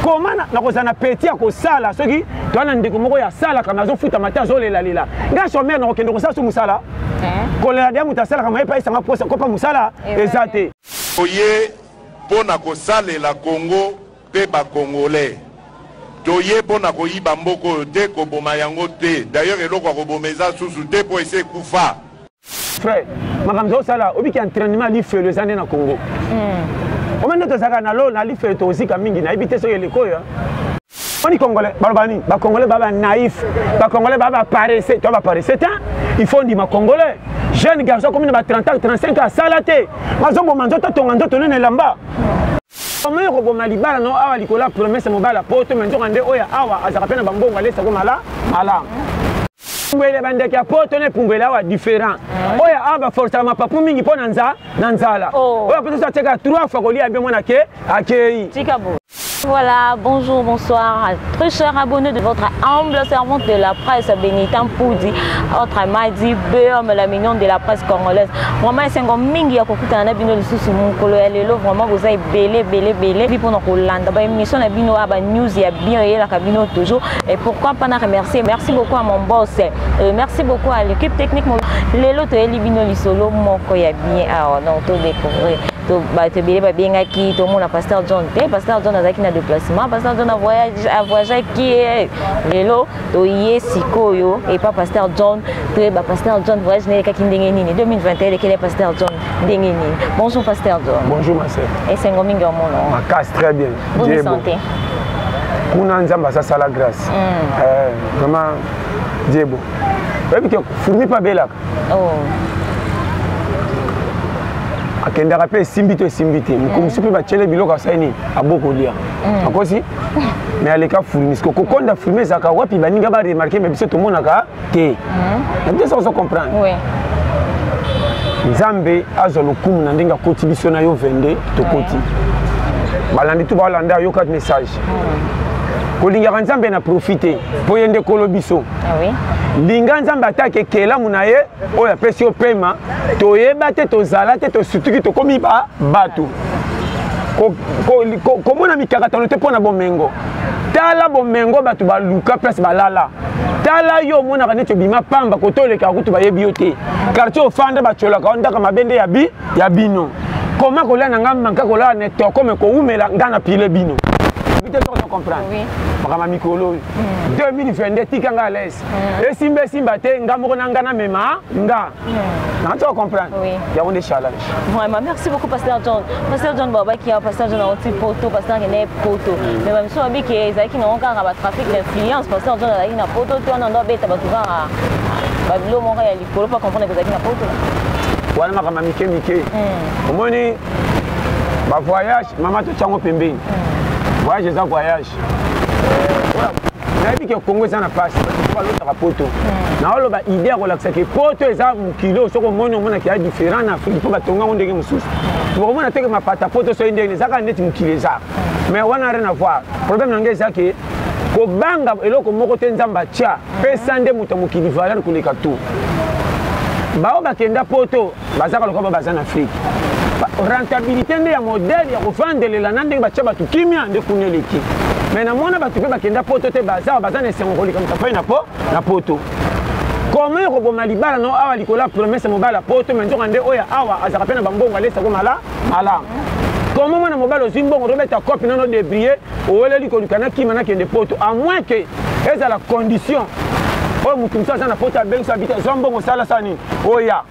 koma nakozala na peti ya kosala soki toa na ndeko moko ya asalaka me azofuta mate azolelalela ngai somere nakokende kosala so mosala eh? kolela dia moto asalaka maye epaisanga mposa kopa mosala eh, eza te toye mpo na kosalela kongo mpe bakongolais toye mpo na koyiba mboko oyo te koboma yango te d'ailleurs eloko ya koboma eza susu te mpo esi ekufa frère makambo ozosala obiki entraînement ya lifelo eza nde na congo hmm. omani nde tozalaka na lo na lifelo tozika mingi nayebi te soki eleko oyo oni congolais baloba nini bacongolais baba naïf bacongolais baba paresse to baparesse te il faut ndima congolais jeune garçon akomi na ba 30 ans 35 asala te bazoboma nzoto atonga nzoto nene elamba omoni koboma libala no awa likolo ya promese mobala poto me nzoka nde oyo awa azalaka mpe na bambongo alesako mala malamu epumbweli ya bandeke ya poto na epumbweli awa différent ah. oyo awa baforcaka mapapu mingi mpo na nzala oh. oyo akosusu atyaka trois fois kolia mpe mwana ke akei Voilà, bonjour, bonsoir, très chers abonnés de votre humble servante de la presse, Benitan Poudi, autre Madi, Beum, la mignonne de la presse congolaise. Vraiment, c'est un mingi ya kokutana na bino lisusu mukolo ya lelo, vraiment vous avez belé belé belé, puis pour nous kolanda ba émission na bino aba news ya bien et la kabino toujours. Et pourquoi pas na remercier merci beaucoup à mon boss et euh, merci beaucoup à l'équipe technique lelo toyeli bino lisolo moko ya bien awa ah, donc to découvrir bato ebele babengaki tomona pasteur john te pasteur john azalaki na déplacement pasteur john avoyageaki eh, lelo toye sikoyo epa pasteur john toyeba pasteur john voyage na elekaki ndenge nini 2021 elekele pasteur john ndenge nini bonjour pasteur john bonjour ma sœur esengo mingi omona makasi très bien boni santé kuna nzambe asasala grâce mm. eh, vraiment diebo oyebi ke fourmi mpe abelaka oh. akendaka mpe esimbi to esimbi te mokolo mosusu mpe batyele biloko asali nini abokolia mm. akosi me aleka fourmi siko kokonda fourmi ezalaka wapi baninga baremarke me biso tomonaka te mhm. nayebi te soki ozo comprendre nzambe azwa lokumu na ndenge akoti biso na yo 22 tokoti balandi tu balanda yo kati message mhm. kolingaka nzambe na profi te mpo ye nde kolo biso ah linga nzambe atake ekelamu na ye oyo apesi yo pema toyeba te tozala te tosutuki tokomi bato komona mikakatano te mpo na bomengo tala bomengo bato baluka place balala tala yo omonaka neti obima pamba koto olekaka kutu bayebi yo te quartier ofanda bacolaka yo ndaka mabe nde ya bino koma kolia na ngai manka kolala na etoko me kowumela ngai na pile bino te soko to comprendre makambo ya mikolo oyo 2022 tika ngai alaise esimba esimba te ngai moko na ngai namema nga nanti ocomprendre yango nde challenge vraiment merci beaucoup pasteur john pasteur john babaki ya pasteur john auti poto pasteur kende poto mm. mais bamisu babi ke ezalaki nango kaka batrafic d'influence pasteur john azalaki na poto te wana ndo abeta bato kaka babilo moko ya likolo mpo comprendre kozalaki na poto wana makambo mike mike mm. omoni bavoyage mama totyango pembeni mm. voyage eza voyage match nayebi ke congo eza na pasi balotaka poto hmm. naoloba idée ya kolakisa ke poto eza mokili oyo soki omoni omonaki ya différent na afrique mpo batonga yango ndenge mosusu bokomona hmm. teke mapata poto soki ndenge eza kaka neti mokili eza hmm. mais wana rien avoir problème na ngai eza ke kobanga eloko moko te nzambe atya pesa nde moto ya mokili valeur koleka to baoyo bakenda poto bazaka lokola ba baza na afrike rentabilité nde ya modele ya kovandelela na ndenge batya bato kimia nde kuna eleki mai namona bato mpe bakenda poto te bazawa baza na esengo kolikamisa fai na po na poto koma ekoboma libala no awa likolo ya promese mobali ya poto mai nzoka nde oyo awa azalaka mpe na bambongo alesako mala malamu koma mwana mobali ozwi mbongo tobeta kope nano debrie oweleli koluka nakima nakende poto a moins ke ezala condition oyo moto mosusu aza na poto abengisa abita zwa mbongo osalasala nini oya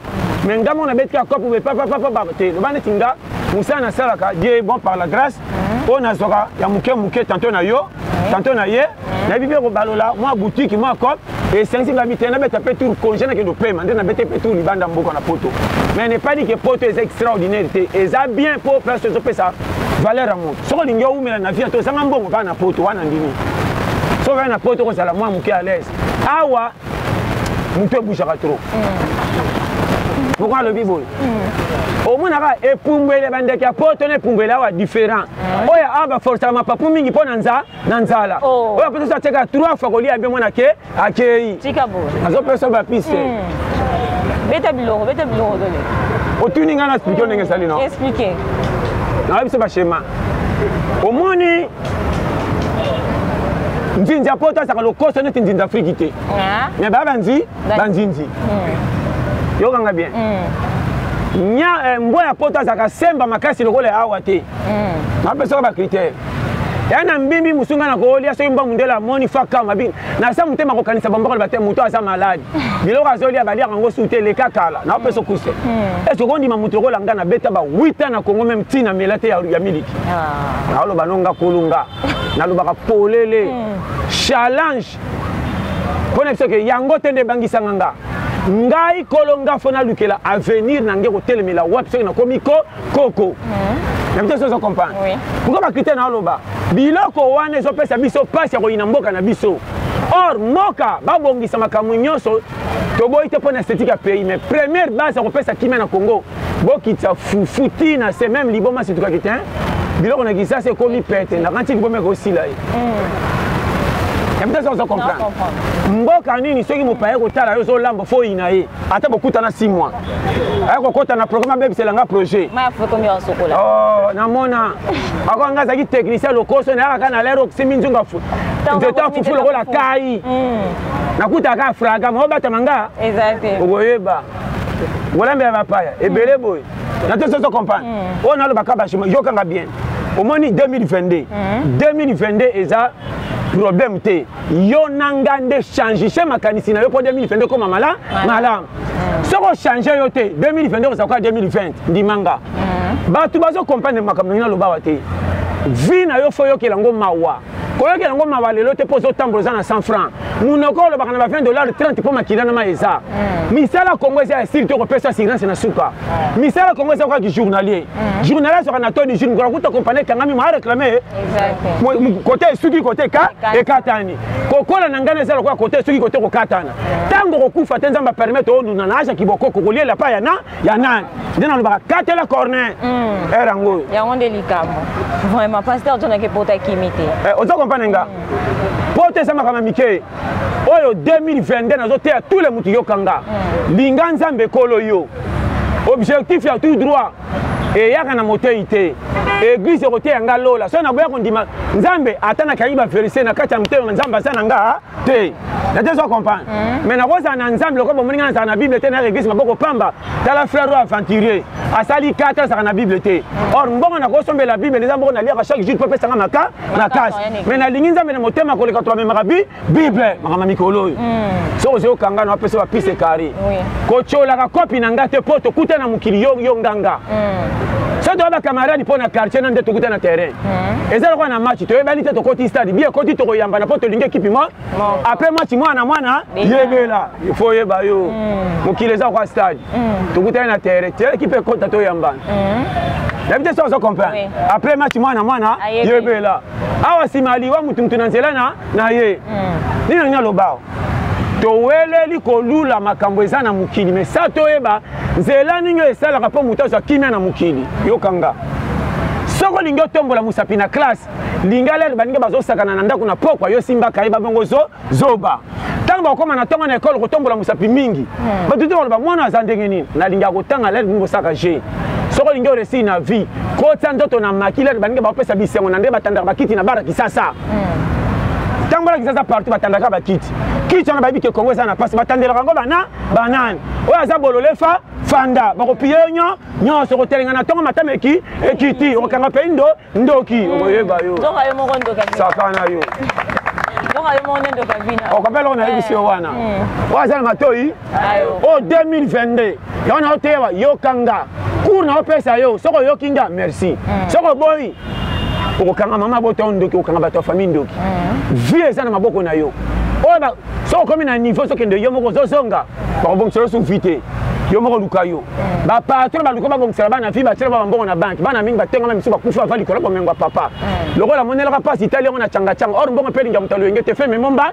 me nga moko nabeti kaka kopo bepapapapa te loba neti nga mosala nasalaka die bon par la grâce mhm. oyo nazwaka ya moke moke tanto na yo mhm. tanto na ye mhm. nayebi mpe kobalola mwa boutiki mwa cope esengisi ngai bitene nabeta mpe tour congé nakende opema nde nabete mpe tour libanda mboka na poto mais ne pas dit ke poto eza extraordinaire te eza bien mpo place ezopesa valeur ya moto soki olingi owumela na vie to ozanga mbongo baa na poto wana ndimi soki aa na poto kozala mwa moke à l'aise awa moto ebujaka trop moko mm. alobi boye mm. omonaka epumbwele bandeke ya poto na epumbwele awa différent mm. oyo awa baforsaka mapapu mingi mpo na nza na nzala oh. oyo apesa so atyaka trois fois kolia bien mwana ke akei azopesa bapise hmm. beta biloko beta biloko dole otuni ngai na explike yo ndenge esali no explike nayebi biso bashema omoni nzinzi ya poto azaka lokoso neti nzinzi afriki te ah. me baya banzi banzinzi hmm. yokanga bien hmm. nya eh, mbwa ya poto azalaka semba makasi lokola ya awa te hmm. napesaka bakritere ya na mbimbi mosu ngai nakolia soki mbangu ndela amoni faka mabi nasa motema kokanisa bamboko loba te moto aza maladi biloko azolia baliaka yango su te eleka kala naopesa okuse hmm. esoki ondima moto lokola ngai nabeta ba 8 ans na kongo meme ntina mela te ya miliki ah. naoloba no nga kolunga nalobaka polele hmm. challenge mpo na biso ke yango te nde ebangisanga nga ngai kolo nga fo nalukela avenir na ngai kotelemela wapi soki nakomi ko koko na bito sozo comprendre pourkoi bakritie na oloba biloko wana ezopesa biso mpasi ya koyina mboka na biso or mboka babongisa makambo nyonso toboyi te mpo na esthétique ya pays mais première base ya kopesa kimia na congo bokitisa fufu ti na se meme liboma situkaki te biloko na kisasa ekomi pete nakanti liboma ekosila ye ebitasa ozo comprendre mboka nini soki mopaya kotala yo ozolamba fo oyina ye ata bokutana si mois aya kokota na programme abebisela nga projet oh, namona ako nga azalaki technicien lokoso nayaka kaka na lere okisimbi nzunga jetan fufu lokola kai mm. nakutaka fraga maobatama nga okoyeba olambela bapaya ebele boye na te soso comprendre hmm. oyo nalobaka bashima yokanga bien omoni 2022 2022 hmm. eza problème te yo na nga nde changise makanisi na yo mpo 2022 ekoma mala malamu hmm. soki ochange yo te 2022 okozala koya 2020 ndima nga bato bazo comprendre makambo ndenge nalobawa te vi na yo fo oyokela yango mawa koyokela yango mawa lelo te mpo ozotambola oza na 100 franc monoko olobaka na ba 20 dollar 30 mpo makila na mai eza hmm. misala kongo eza ya sili to kopesa assurance na suka hmm. misala kongo eza kaka journalier hmm. journalier azwaka na toni jour mokolo kuta kompani ekangami moa réclame kote esuki kote eka ekatani kokola na ngai eza lokola kote esuki kote kokatana ntango kokufa te nzambe apermete onuna na aja kibokoko koliela pa ya na ya nani nde nalobaka katela corner mm. ere yango oyo yango nde likambo vraiment pasteur jonake pota kimi te eh, oza kompane nga mm. pota eza makambo ya mike oyo 2022 nazoteya tous le motu yoka nga mm. linga nzambe ekolo yo objectif ya tout droit eyaka na motei te eglize ekoteya nga lola soki naboya kondima nzambe ata nakaki baverse na kati ya motema nzambe aza na nga te nate zo comprendre mm. mais nakozala na nzambe lokola bomoni ngai nazala na bible te na reglise maboko pamba tala frère oyo aventurier asali kata azalaka na bible te mm. or mbongo nakosombela bible eza moko naliaka chaque jour mpo apesanga maka makasi mais nalingi nzambe na motema koleka to amemaka bi bible makambo mikolo oyo mm. soki ozali okanga na wapesa bapise kari kotyolaka kopi na ngai te mpo tokuta na mokili yo nganga soki toya bacamarade mpo na quartier na nde tokuta na terrain hmm. eza lokola na match toyebani te tokoti stade bie ekoti tokoyambana mpo tolingi ekipi mo apres match mwana mwana yebela ifo oyeba yo hmm. mokili eza kwa stade hmm. tokutani na terre te ekipe ekota toyambana yabi te soki ozo comprendre apres match mwana mwana yebela awa nsima aliwa motu motu na nzela na ye nini nangi nalobao toweleli kolula makambo eza na mokili me sa toyeba nzela nini oyo esalaka mpo moto azwa kimia na mokili yokanga soki olingi otombola mosapi na classe linga lelo baninga bazosakana na ndako na pokwa yo simbaka ye babongo zo zoba ntango bakokoma na ntongo na ekole kotombola mosapi mingi hmm. bato te baloba mwana aza ndenge nini nalingi akotanga lelo bini bosaka je soki olingi oresili na vie kotya nzoto na makila baninga bakopesa bisengo na nde batandaka bakiti na bara kisasa ntango alakisa aza partout batandaka bakiti kiti wana bayebi ke kongo eza na mpasi batandelaka yango bana banani oyo aza bolole fa fanda bakopiye yo nyo nyonso okotelenga na ntongo matama eki ekiti okokanga mpe ndo ndoki okoyeba yo sakana yo okope eloko nayebisi yo wana oyo aza na matoi o 2022 yango na oteya yoka nga cour na opesa yo soki oyoki nga merci mm. soki oboyi okokanga mama bota yo ndoki okokanga bato ya famille ndoki mm. vie eza na maboko na yo oyo soki okomi na niveau sokende yo moko ozozonga bakobongisa yo suvi te yo moko luka yo mm. bapatron baluka babongisela bana vi batyela ba bambongo na banke bana mingi batengama misu bakufi bava likolo bomengwa papa lokola monelaka mpasi itali yango na cangacanga or mbongo mpe elinga moto alwenge te fe memomba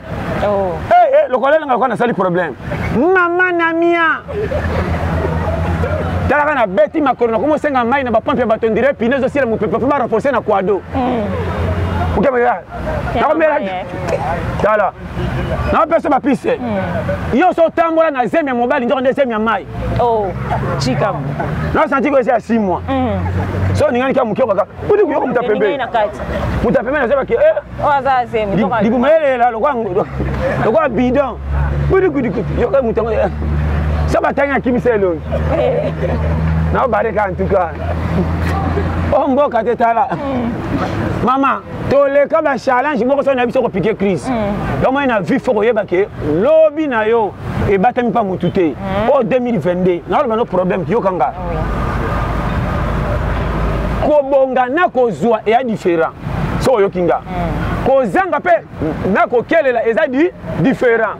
oh. hey, eh, hey, eh, lokola elanga lokola nasali problème mama na mia talaka na beti makolo nakomi osenga mai na bapampe ya bato ndire pine ezosila mopepe mpe barenforce na kwado okemela mm. nakomela tala napesa bapise mm. yo so otambola na zemi ya mobali njoko nde zemi ya mai oh, nasanti ko eza ya simwa mm. so ningani kya moke okaka kuti kuyoka moto ya pembeni moto ya pembeni azebaki eh, oyo aza azemi libuma elela lokola bidon budikudikutu yoka moto yango so batangi akimisa elongi nao bareka antuka o mboka te tala mama toleka bachallenge moko so na biso kopike crise mm. yomoi na vie fo koyeba ke lobi na yo ebatami mpa motu te mm. o 2022 naoloba no problème kiyokanga kobonga na kozwa eya différent soki oyoki nga mm. kozanga mpe na kokelela eza di différent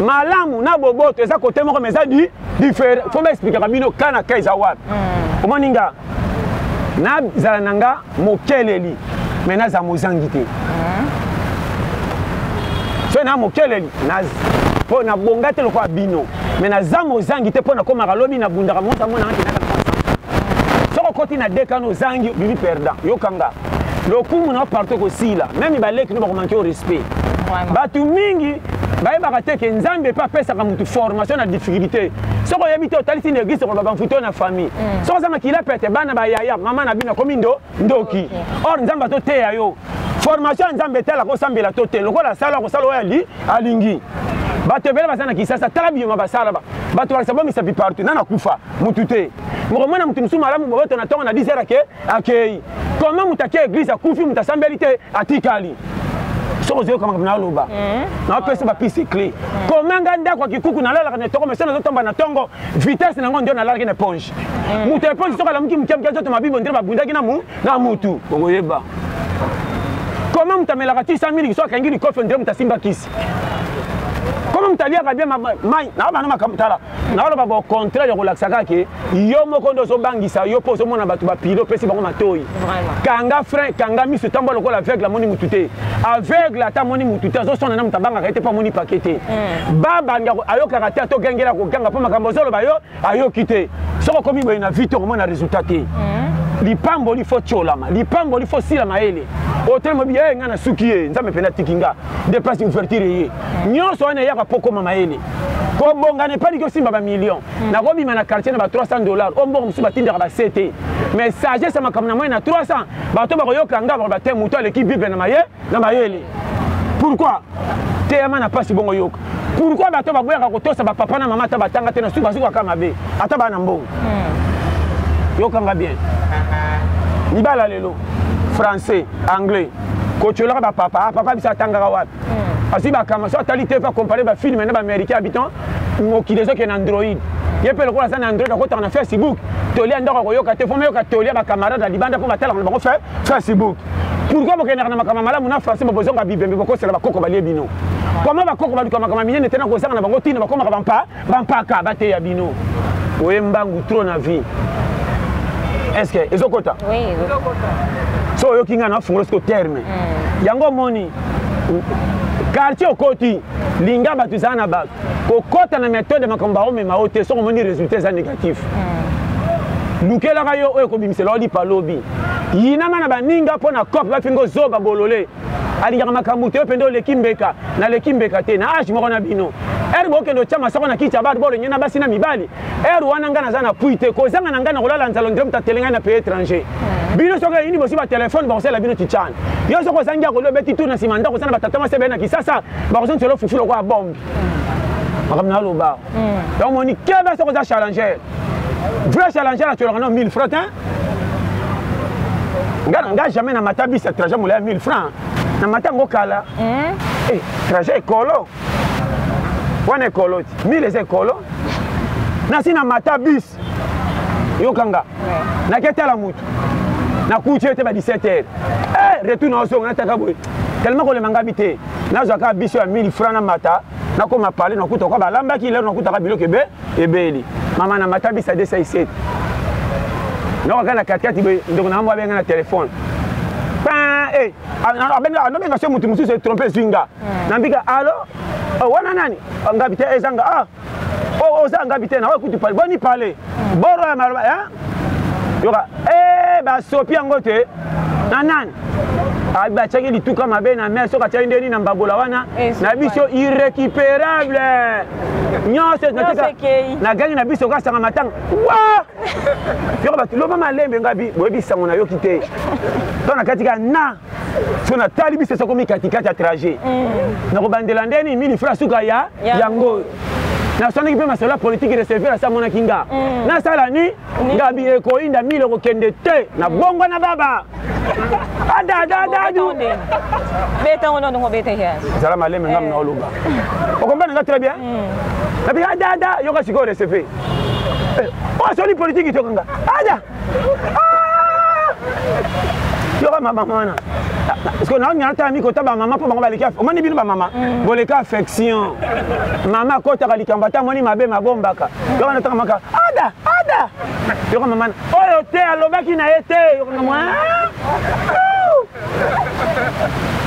malamu na boboto eza kote moko ma eza di différent fo baexplikaka bino ka na ka eza wapi mm. omoni nga nazala na nga mokeleli me naza mozangi te mm. soki na mokeleli mpo nabonga te lokola bino mais na zanga ozangi te mpo nakomaka lobi nabundaka monta mona ngai kendaka na basa soko okoti na dekano ozangi obimi perdant yokanga lokumu na yo partout ekosila meme baleki no bakomanke o respect bato mingi bayebaka te ke nzambe mpe apesaka motu formation na difficulté soki oyebi te otalisi na eglise okoloba mfuto na famille mm. soki ozanga kila pete bana bayaya mama na bino akomi ndo ndoki or nzambe atoteya yo formation ya nzambe etalaka osambela to te lokola asala akosala oyo ali alingi bato ebele baza na kisasa tala biyoma basala bato bakisa bomisapi partout nana kufa mutu te mokomona moto mosusu malamu boboto na ntongo na 10 heure ake akei koma moto ake eglise akufi moto asambeli te atikali soki ozwi yoka makambo naloba eh? napesi bapisi cle hmm. komanga ndako ya kikuku nalalaka na etongo mese nazotamba na ntongo vitesse nango ndio nalalaki na eponge hmm. moto ya eponge soki alamuki moke moke azoto mabibo ndire babundaki na mu na mutu okoyeba koma moto amelaka ti 100 mingi so akangi likofi ondire moto asimba kisi koma moto aliaka bie mai na bana makambo tala naoloba ba contraire ya kolakisa kaka ke yo moko nde ozobangisa yo mpo ozomona bato bapile opesi bango matoi kanga frein kanga miso ntango lokola aveugle amoni motu te aveugle ata amoni motu te azoswana na moto abangaka ye te mpo amoni pake te hmm. babanda ayokaka te atogengela koganga mpo makambo ozoloba yo ayoki te soki okomi boye na vie te okomona resultat te hmm. lipamboli fo tiolama lipamboli fo sila mayele otelema biye eh, ngai nasuki ye nzambe mpe natiki nga nde place ouverture ye hmm. nyonso wana eyaka mpo okoma mayele kobongana epai liki osimba bamillion hmm. nakobima na quartier na ba 300 dollar oyo mbongo mosusu batindaka base te mais sagesse ya makambo na moi na 300 bato bakoyoka nga bakoba te moto aleki bible na maye na mayele pourquoi teyama na mpasi bongo yoka pourquoi bato baboyaka kotosa bapapa na mama ata batanga te na suka bazuka kaka mabe ata baa na mbongo hmm. yokanga bien libala lelo français anglais kotiolaka bapapa ah, papa biso atangaka wapi hmm. azwi bakama so atali te mpe akompare bafilme na baaméricain habitant mokili ezokende na android ye mpe lokola aza na android akotaka na facebook toli ya ndako akoyoka te fo mayoka toli ya bacamarade ya libanda mpo batalaka na bango fe facebook pourkui bokendaka na makambo malamu na français bobozonga bibembe bokosela bakoko balie bino koma bakoko baluka makambo minene te na kozanga na bango ntina bakomaka bampa bampaka bateya bino oye mbangu trop na vie estce ezokota so oyoki ngai nafungola siko terme mm. yango omoni quartier okoti linga bato ezala na bato kokɔta na metode ya makambo baomema yo te soki omoni résultat eza négatif hmm. lukelaka yo oyo ekobimisela yo lipa lobi yinama na baninga mpo na cope bafinga ozoba bolole alingaka makambo te yo mpenza oleki mbeka naleki mbeka te na age moko na bino ere bokende otya masoko na kiti ya bato bolenge na basi na mibali ere wana ngai naza na pui te kozanga na ngai na kolala nzalo ndire moto atele ngai na pays étranger hmm. bino soki eyini bosi batelefone bakosala bino titiana yo soki ozangi ya kolio obeti tour na nsima ndako oza na batata mwasi ebele na kisasa bakozongi telo fufu lokola bombe makambo na aloba hmm. donc moni kebe soko oza challenger vrai challenger atyolaka no 1000 franc te nga na nga jamais na mata bis ya trajet molaya 1000 franc na mata yango kala hmm. eh, trajet ekolo wana ekolo ti 1000 eza ekolo nasi na mata bis yoka nga naki atala motu nakuti yo te ba 17 heures eh, retour na ozonga nataka boye tellement kolema ngabi te nazwaka biso ya 1000 franc na mata nakoma parle nakuta kwa balambaki lelo nakutaka biloko ebe ebeli mama na mata bisa 207 nakaka na katikati boye ndeko na mambo abenga na telefone eh, anobenga so motu mosusu etrompe ezwi nga hmm. nambika alo oh, wana nani ngabi te ezanga ah oh, oza oh, ngabi te naoyo kutu pale boni pale boro ya maloba hein? yoka eh, basopi yango te na nani ah, batiaki lituka mabe na mer soki atiaki ndeni na mbabola wana eh, na biso irrécupérable nyonso nagangi na biso kasanga matanga wa yoko bato loba malembe ngabi boyebi sango nayoki te to na kati ka na so natali biso esokomi katikati ya trajet mm. nakobandela nde nini mini fra suka ya yango nasanaki mpe masolo ya politiki reserver asa amonaki nga mm. nasala ni ngabi ekoyinda mile kokende te na mm. bongo na baba adadadadu zala maleme ngam na oloba okombana nga très bien nabi adada yoka sikoyo reserver oyo asoli politiki tokanga ada yoka mabama wana parceke naolinga natala miko ta bamama mpo bango baleki omoni bino bamama mm. boleki affection mama akotaka likambo ata amoni mabe mabombaka yoka nataka maka ada ada yoka mama oyo te alobaki na ye te yoka mama ah!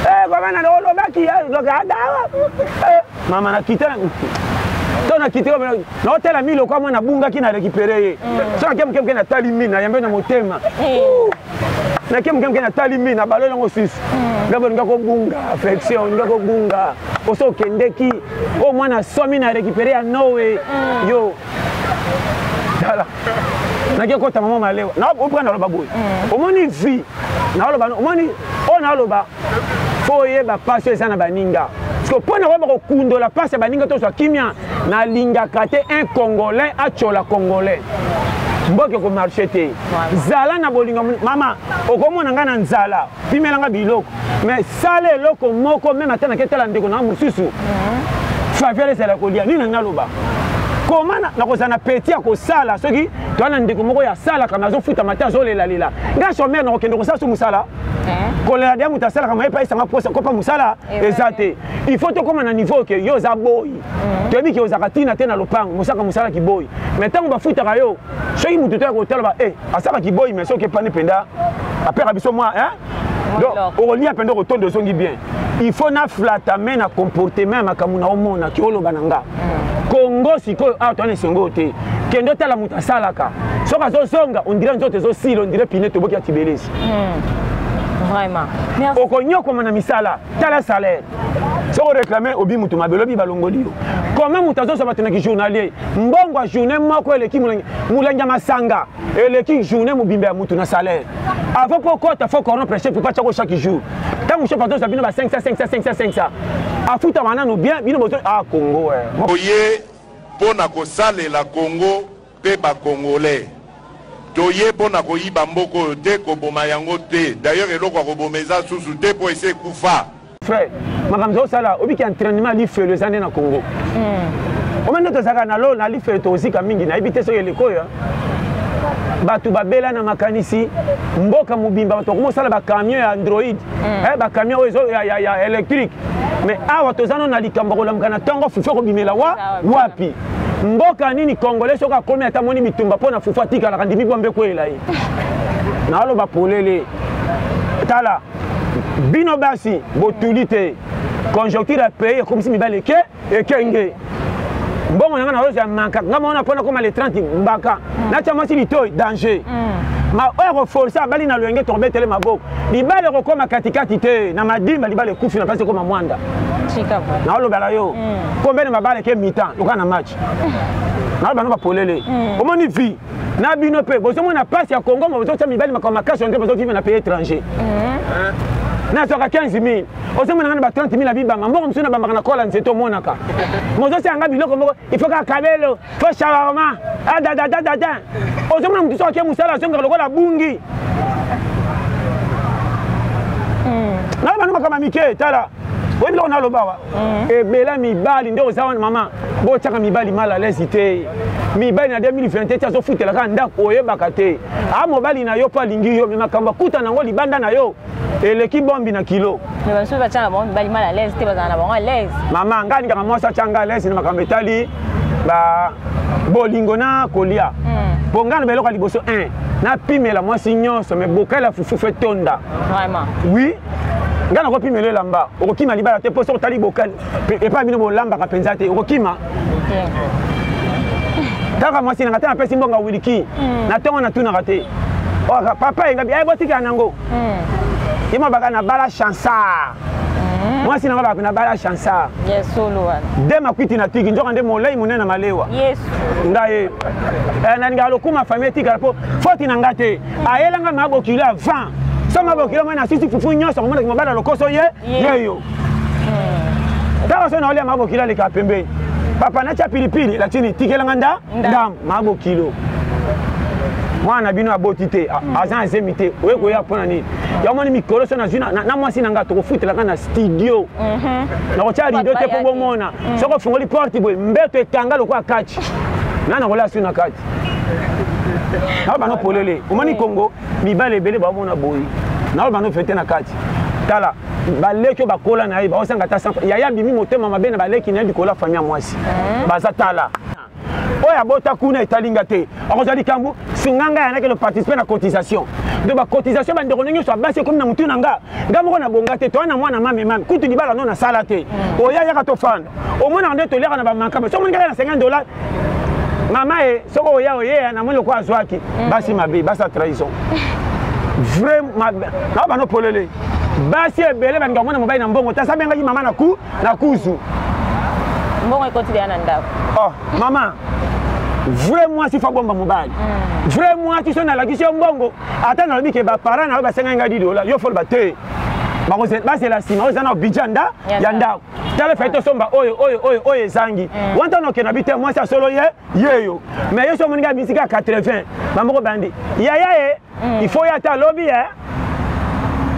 eh, babana olobaki eh, ada eh, mama nakita to nakita naotala mi lokola mwana abungaki na récupéré ye mm. soki ake moke moke natali mi nayambe na motema mm. nake moke moke natali mi na balo yango susu mm. ndako olinga kobunga affection olinga kobunga oso okendeki oyo oh, mwana asomi na récupéré ya noe yo tala nake kota mama malewa naoprendre aloba boye omoni vie naoloba omoni oyo naoloba fo oyeba mpasi oyo eza na baninga siko mpo na koyeba kokundola mpasi ya baninga tozwa kimia nalingaka te un congolais atyola congolais mboka ekomarche te zala na bolingo mama okomona ngai na nzala pimela ngai biloko mais sala eloko moko meme ata nake tala ndeko nanga mosusu mhm. faveur ezala kolia nini nanga aloba koma nakozala na peti ya kosala soki toa na ndeko moko ya salaka me azofutama te azolelalela ngai somere nakokende kosala so mosala eh? kolela dia moto asalaka maye epai esanga kopa mosala eh, eza te il faut tokóma na niveau ke yo oza boyi mhm. toyebi ke ozalaka ntina te na lopango mosaka mosala kiboyi mais ntango bafutaka yo soki moto to ya kotala ba e eh, asaka kiboyi mais soki epani mpenza apeka biso mwa donc okolia mpenza okotondo ozongi bien il faut naflata me na comportement ya makambo na omona ke oloba na nga mhm. kongo sikoyo awa towana esengo oyo te kende otala moto asalaka soki azozonga ondire nzoto ezosila ondire pine toboki ya tibelesi hmm. vraiment okonyokoma na misala tala salaire soki oreklame obi moto mabe olobi balongoli yo koma moto azozwa bato na kijournalier mbongo ya journée moko eleki molangi ya masanga eleki journée mobimba ya moto na salaire avant mpo okota fo corrompre chef epa tiako chaque jour ntango chef azozwa bino ba 500 500 500 500 afutama nanu bien bino bozo a ah, congo eh. oye mpo na kosalela congo pe ba congolais toye po na koyiba mboka oyo te koboma yango te d'ailleurs eloko ya koboma eza susu te po esi ekufa frère makambo ozosala obiki entraînement lifelo eza nde na congo hmm. omende tozalaka na lo na lifelo tozika mingi nayebi te soki eleko oyo bato babela na makanisi mboka mobimba bato bakoma osala bacamion ya android hmm. eh, bacamion oyo ya électrique mais awa toza no na likambo ya kolamuka na ntongo fufu ekobimela wa wapi mboka nini congolais soki akomi ata moni bitumba mpo na fufu atikalaka ndimi bombe ekweyela ye naaloba polele tala bino basi botuli te conjoncture ya pays ekomisi mibali eke ekenge mbongo na ngai naozwa manka ngai maona mpo nakoma le 30 mbaka mm. natya mwasi litoi danger mm. ma oyo akoforce abali na loyenge tokobetele maboko libala ekokoma katikati te na madimba libala ekufi na mpasi ekoma mwanda naolobela yo mm. kombene mabala eke mitan loka na match naoloba no bapolele mm. omoni vie na bino mpe bozomona mpasi ya kongo ma bozotya mibali makambo makasi oyo nde bozovive na pays étranger mm. nazwaka 15 000 ozomona nga na ba 30 000 ya bibanga mbongo mosusu nabambaka na kola nzete omonaka mozosanga biloko moko ifo kaka kabelo to shawarma adadadadada ah, ozomona motu soki ake mosala azongaka lokola abungi hmm. nana bano makama mike tala oyebi loko naloba wa hmm. ebela mibali nde oza wana mama botyaka mibali mal alaise te mibali na 2020 ti azofutelaka ndako oyebaka te a ah, mobali na yo mpo alingi yo me makambo akuta nango libanda na yo eleki bombi na kilo mais basusu batya na bango mibali mal à l'aise te bazala na bango à l'aise mama ngai alingaka mwasi atya ngai à l'aise na makambo etali ba bolingo na kolia hmm. mpo ngai na baeloko ya liboso 1 napimela mwasi nyonso me bokali ya fufufu etonda vraiment oui ngai nakopimela elamba okokima libala te mpo soki otali bokali epai bino bolambaka mpenza te okokima kaka mwasi nanga te napesi mbongo wiliki hmm. na ntongo natunaka te papa engabi aye botikela nango hmm. ye mabaka na bala chansar hmm. mwasi nanga baka na bala chansar de makwiti na tiki nzoka nde molai monene na malewa nga ye eh, nalingaka lokuma famille etikala mpo foti na nga te ayelanga mabokili avant so mabokili omoi na sisi fufu nyonso omonaki mabala lokoso ye yeyo kaka so naolia mabo kilo aleka pembeni papa natya pilipili lakini tikelanga nda ndam mabo kilo mwana na bino aboti te hmm. aza na zemi te oye koya mpo na nini yamoni mikolo so nazwi na mwasi na ngai tokofutelaka na studio mhm. nakotya rido te mpo bomona hmm. soki ofungoli porte boye mbeto ekanga lokola kati ngai nakolya su na kati nao bano polele omoni kongo mibale ebele baomona boyi nao bano fete na kati tala baleki oyo bakola na ye baozanga ata sampa yaya abimi motema mabe na baleki na ye likolo ya fami ya mwasi eh? baza tala oyo abota kuna etali nga te akozwa likambo singa ngai yanaki no participe na cotisation donc bacotisation bandeko ndenge nyonso abasi ekomi na motu na nga nga moko nabonga te toya na mwana mamemami kutu libala no nasala te mm. oya yaka tofanda omonaka nde toliaka na bamakama soki omonikaka na 50 dollar mama e soki oya oyeya namoni lokola azwaki mm. basi mabe basi ya trahison vrai mabe na bano polele basi ebele bandika komona mobali na mbongo tasa bengaki mama na ku na kuzu mbongo ekotilia na ndako oh mama vrai mwasi fa bomba mobali mm. vrai mwasi so nalakisi yo mbongo ata nalobi ke baparent na yo basengaki ngai didola yo foloba te bazela nsima oyo eza na budget ya ndako tala efai tosomba oyo oyo oyo oyo ezangi mm. wanta noke na bite mwasi ya solo ye yeyo me yesu amoninga misika ya 80 bamoko bandi yaya ye mm. ifo ye ata alobi ye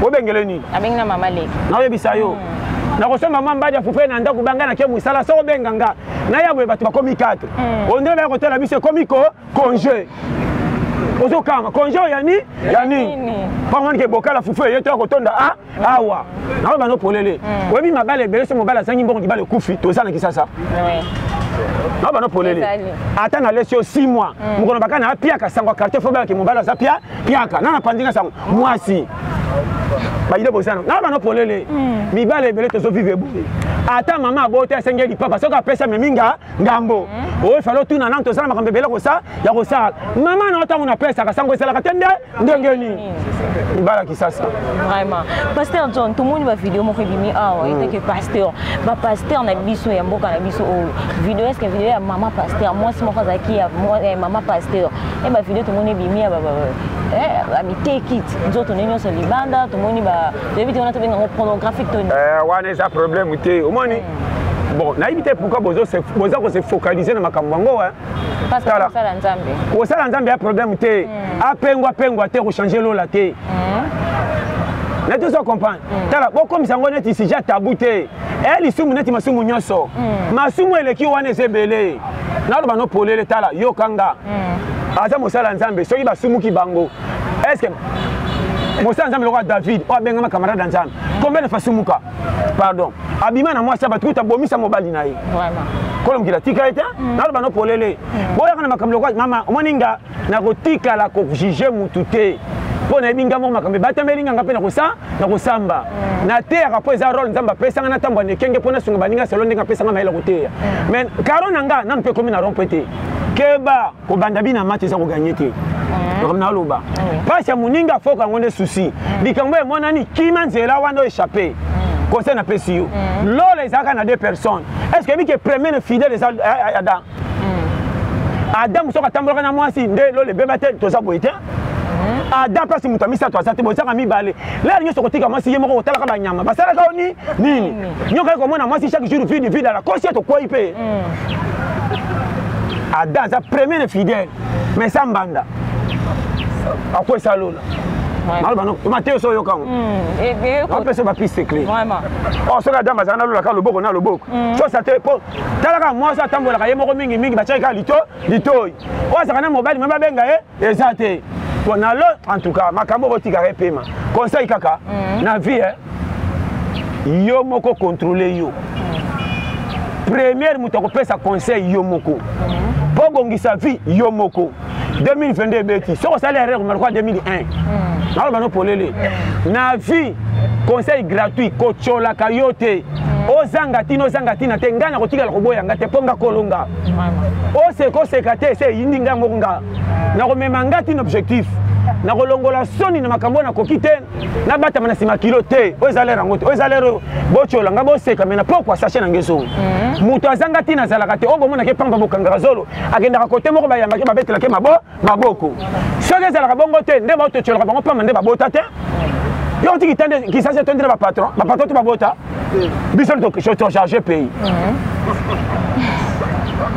obengele nini abengi na mama leki naoyebisa yo mm. nakosomba mwa mbadi ya fufe na ndako banga nake mosala soko obenga nga naya boye bato bakomi 4 ondele baya kotala biso ekomi ko congé ozokanga congé oyo yani ya nini pamoni ke bokala fufu eye toya kotonda a awa naoyo bano polele mm. oyebi mabala ebele so mobali azangi mbongo libala ekufi toza na kisasa na bana polele ata na lesi yo 6 mois mm. mokolo baka na apiaka sango ya quartier fo bayaki mobali aza pia piaka na napanzi nga sango mwasi bayile bozana na bana polele mm. mibale ebele tozo vive boye ata mama abota asengeli papa soki apesa me minga ngambo hmm. oyo falo tuna nano tozala makambo ebele kosa ya kosala mama na yo ntango napesaka sango ezalaka te nde ndenge nini hmm. libala kisasa vraiment pasteur john tomoni bavideo moko ebimi awa hmm. etake pasteur bapasteur na biso ya mboka na biso oyo video eske video ya mama pasteur mwasi moko azalaki ya eh, mama pasteur e eh, bavideo tomoni ebimi ya bamiteki eh, nzoto nde nyonso libanda tomoni toyebi te wana tobenga yango pornographique to wana eza problème te omoni bon nayebi te pourquoi boza ko se focaliser na makambo yango tala kosala nzambe ya problème te hmm. apengwa pengwa te kochange lola te hmm. neti ozo comprendre hmm. tala bokomisa yango neti sija tabu te e eh, lisumu neti masumu nyonso masumu eleki wana eza ebele naloba no polele tala yoka nga aza mosala nzambe soki basumuki bango estce mosala nzambe lokola david oyo abengama camarade ya nzambe combien de fasumuka pardon abima na mwasi ya bato kuta abomisa mobali na ye kolo mokili atika ye te mm. naloba no polele mm. boyaka na makambo lokola mama omoni nga nakotikala kojuge motu te mpo nayebi nga moko makambo ebatameli nga nga mpe nakosamba mm. nateyaka mpo eza role nzambe apesa nga natambwa nekenge mpo nasunga baninga selo ndenge apesa nga mayele koteya mais karo na nga nanu mpe ekomi na rompo ete keba kobanda bina match eza koganye te makambo mm. naloba mpasi ya moninga afoka yango nde susi mm. likambo emonani kima nzela wana oechappe mm. conseil napesi yo lola ezalaka na deux personnes est ce que ebike premier ne fidèle eza eh, eh, adam adam soki atambolaka na mwasi nde lola ebeba te toza boye te ada mpasi moto ya misato aza te bozanga mibale lea nyonso okotika mwasi ye moko kotalaka banyama basalaka yo ni nini nyokaki komona mwasi chaque jour vide vide ala kosi ya tokwei mpe mm. ada aza premier fidèle mais sa mbanda akwesa lola mateyo so oyoka ngo apesa bapiste cle soki adam azala na lola kaka loboko na loboko sosa te po talaka mwasi atambolaka ye moko mingi mingi batiaki kaka lito litoi oyo azalaka na mobali me babenga ye eza te po na lo en tout cas makambo okotikaka epema conseil kaka mm. na vie eh? yo moko contrôle yo première moto akopesa conseil yo moko mpo mhm. obongisa vie yo moko 2022 ebeti soki osali erreur omalokwa 2001 naloba no polele mhm. na vie conseil gratuit kotyolaka yo te mhm. ozanga ntina ozanga ntina te ngai nakotikala koboya nga te mpo nga kolonga oseka oseka te ese eyindi ngai moko nga nakomema ngai tino objectif nakolongola soni na makambo oyo nakoki te nabatama na nsima kilo te oyo eza lere yango te oyo eza lere botyola ngai boseka me na pokwa sache na ngai ezongi mhm. moto azanga ntina azalaka te oyo bomonake mpamba bokangaka zolo akendaka kote moko bayambaki babetelake mabo maboko soki ezalaka bongo te nde baototyolaka bango mpamba nde babota te yo otiki te nde kisasi etondi na bapatron bapatron te babota biso tocharge pays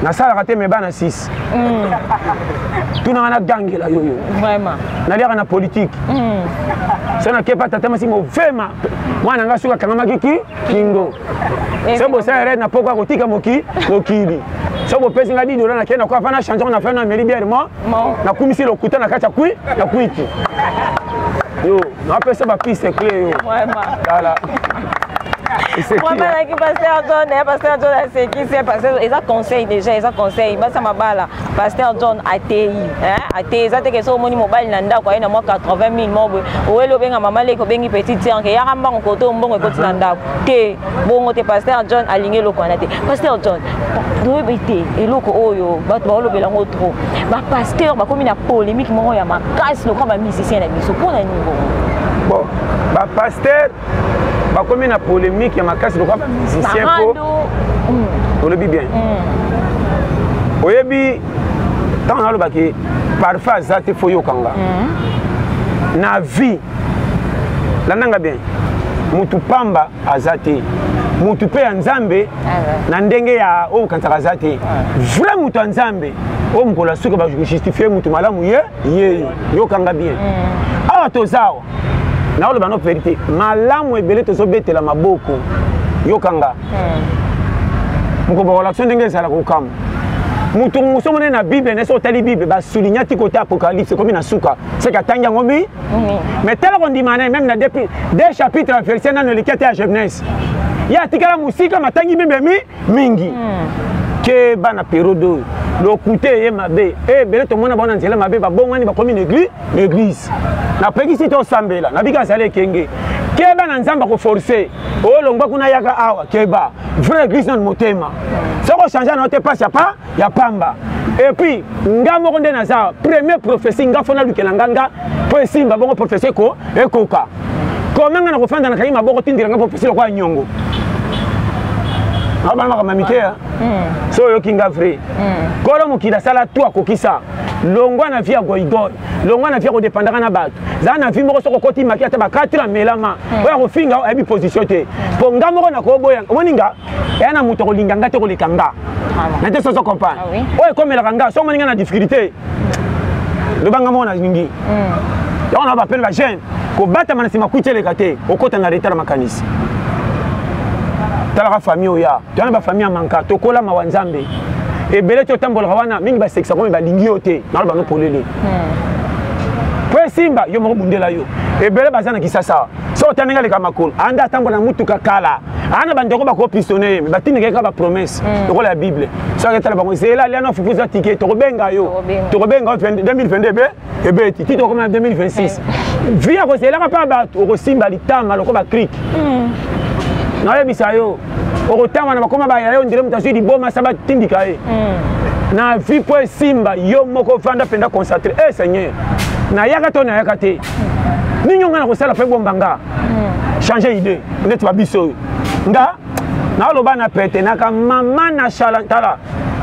nasalaka te me bana 6 mm. tunanga nagangela yo yo naliaka na politike mm. so nakepa tata masi movema mwana ngai soki akangamaki ki kingo eh, soki bosala erreur na poko akotika moki mokili soki bopesi ngai didola na kei na kwa mpa na change na fai na meli biere mo nakumisi lokuta na kati ya kwi na kwiti yo napesa bapiste cle yo tala wamalaki paster john paster john asekisi paster eza conseil déjà eza conseil basama bala pasteur john ateyi ateyi eza teke soki omoni mobali na ndako aye na mwa 80 mille moko boye oweli obenga mama leki obengi petit tianke eyaka mbango koto mbongo ekoti na ndako te bongo te pasteur john alingi eloko wana te pasteur john toyebi te eloko oyo bato baolobela yango trop bapasteur bakomi na polémique moko ya makasi lokola bamusicien na biso mpo na nini bongo bon bapasteur bakomi na polemique ya makasi lokola bamusicien po mm. olobi bien mm. oyebi ntango nalobaki parfum aza te fo yokanga mm. na vie landanga bien mutu pamba aza te mutu mpe ya nzambe ah na ndenge ya oyo okanisaka aza te vrai mutu ya nzambe oyo mokolo ya suka bajustifie mutu malamu ye ye yokanga bien awa toza awa naoloba no verité malamu ebele tozobetela maboko yokanga hmm. mokobwa kolakso ndenge ezala kokamwa moto mosusu monene na bible na soki otali bible basulignaki kota apocalypse ekomi na suka seke atangi yango mi mais tala kondima na ye meme na de chapitre ya verset nano eleki ata ya genèse ye atikala mosika matangi mimemi mingi hmm. ke bana periode oyo lokuta eye mabe ebele eh, tomona bango na nzela mabe babongani bakomi na eglise napekisi tosambela nabiki azali ekenge keba na nzambe akoforce olongba kuna yaka awa keba vrai eglise nanu motema soki ochange na yo te pasi apa ya pamba epuis nga moko nde naza premier prophetie nga fona lukela nga nga mpo esimba bongo prophetie eko ekoka kome nga na kofanda na kangi maboko tindela nga prophetie lokola nyongo abana makambo mike ya hmm. so oyoki nga vrai hmm. kolo mokili asala to akokisa longwa na vie ya goigoi longwa na vie ya kodepandaka na bato zala na vie moko soki okoti maki ata ba 4 amelama hmm. oyo akofinga ayebi position te mpo nga moko nakoboya omoni nga eya na moto akolinga nga te koleka nga na te soso comprendre ah oyo ekomelaka nga soki omoni nga na difficulté loba nga moko nalingi hmm. yango na bapele bajeune kobatama na nsima kwiti eleka te okota na retard makanisi talaka famille oya toyana bafamille ya manka tokola mawa nzambe ebele ti otambolaka wana mingi basekisa komi balingi yo te naloba no polele hmm. po esimba yo moko bundela yo ebele baza na kisasa soko ta ndenge aleka makolo anda atambola na motuka kala ana bandeko bakopistone ye batindika ye kaka bapromese hmm. lokola ya bible soki aketala bango zela alia na fufu eza tike tokobenga yo tokobenga yo 2022 ebe ebeti ti tokoma na 2026 vi ya kozelaka mpe bato okosimba litama lokola bakrike hmm. nayebisa yo okotanga na bakoma baya yo ndele moto azwi liboma sa batindika ye hmm. na vi mpo esimba yo moko vanda mpenza concentre e eh, seigneur nayaka to nayaka te ninyo nga na kosala mpe bomba nga hmm. change idée neti babiso oyo nga naloba na pete naka mama na shala tala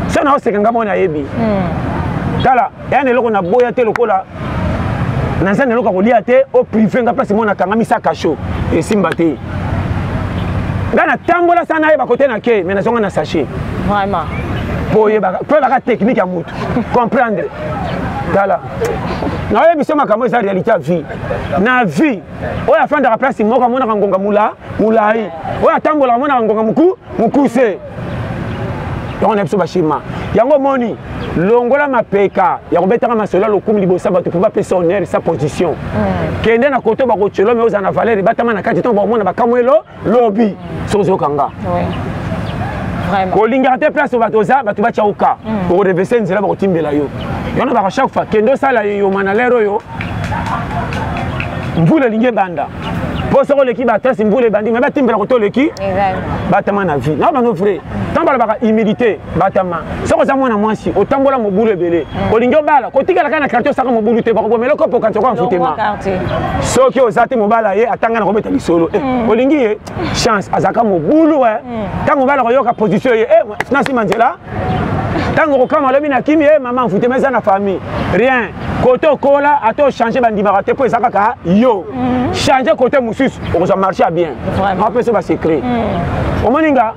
so naoseka nga mwana ayebi hmm. tala yana eloko na boya te lokola naza na eloko ya kolia te o prive nga place mwana akangami sa kasho esimba te nga natambola sa nayeba kote na ke me nazonga na sachet vraiment po oyebaka po oyebaka technique ya motu comprendre tala naoyebi biso makambo eza réalité ya vie na vie oyo afandaka place moko amonaka ngonga mula molai oyo atambolaka amonaka ngonga moku mokuse yango na biso bashima yango omoni longola mapeka ya kobetaka masolo ya lokumu liboso ya bato mpo bapesa honere sa position mm. kende na koto bakotyola me ozala na valeur ebatama na kati ntango bakomona bakamwelo lobi soki ozoyoka nga kolingaka te place bato oza bato batya oka mm. okorevese nzela bakotimbela yo yango baka chaque fois kende osala yoma na lere oyo mvula elingi ebanda mpo soki oleki batasi mvula ebandi me batimbela koto oleki batama na vie na bano vrai ntango balobaka humilité batama soki oza mwana mwasi otambola mobulu ebele mm. olingi obala kotikala kaka na kartier osaka mobulu te bakobomela okopo kanti okoya mfutema soki oza te mobala ye atanga na kobeta lisolo eh, mm. olingi ye chance azalaka mobulu eh. mm. ntango mobala koyoka position ye eh, na nsima nzela ntango okokama alobi na kimi ye mama mfutema eza na famille rien kote okola ata ochange bandimaka te mpo eza kaka yo change kote mosusu okozwa marché ya bien apesa basecret omoni nga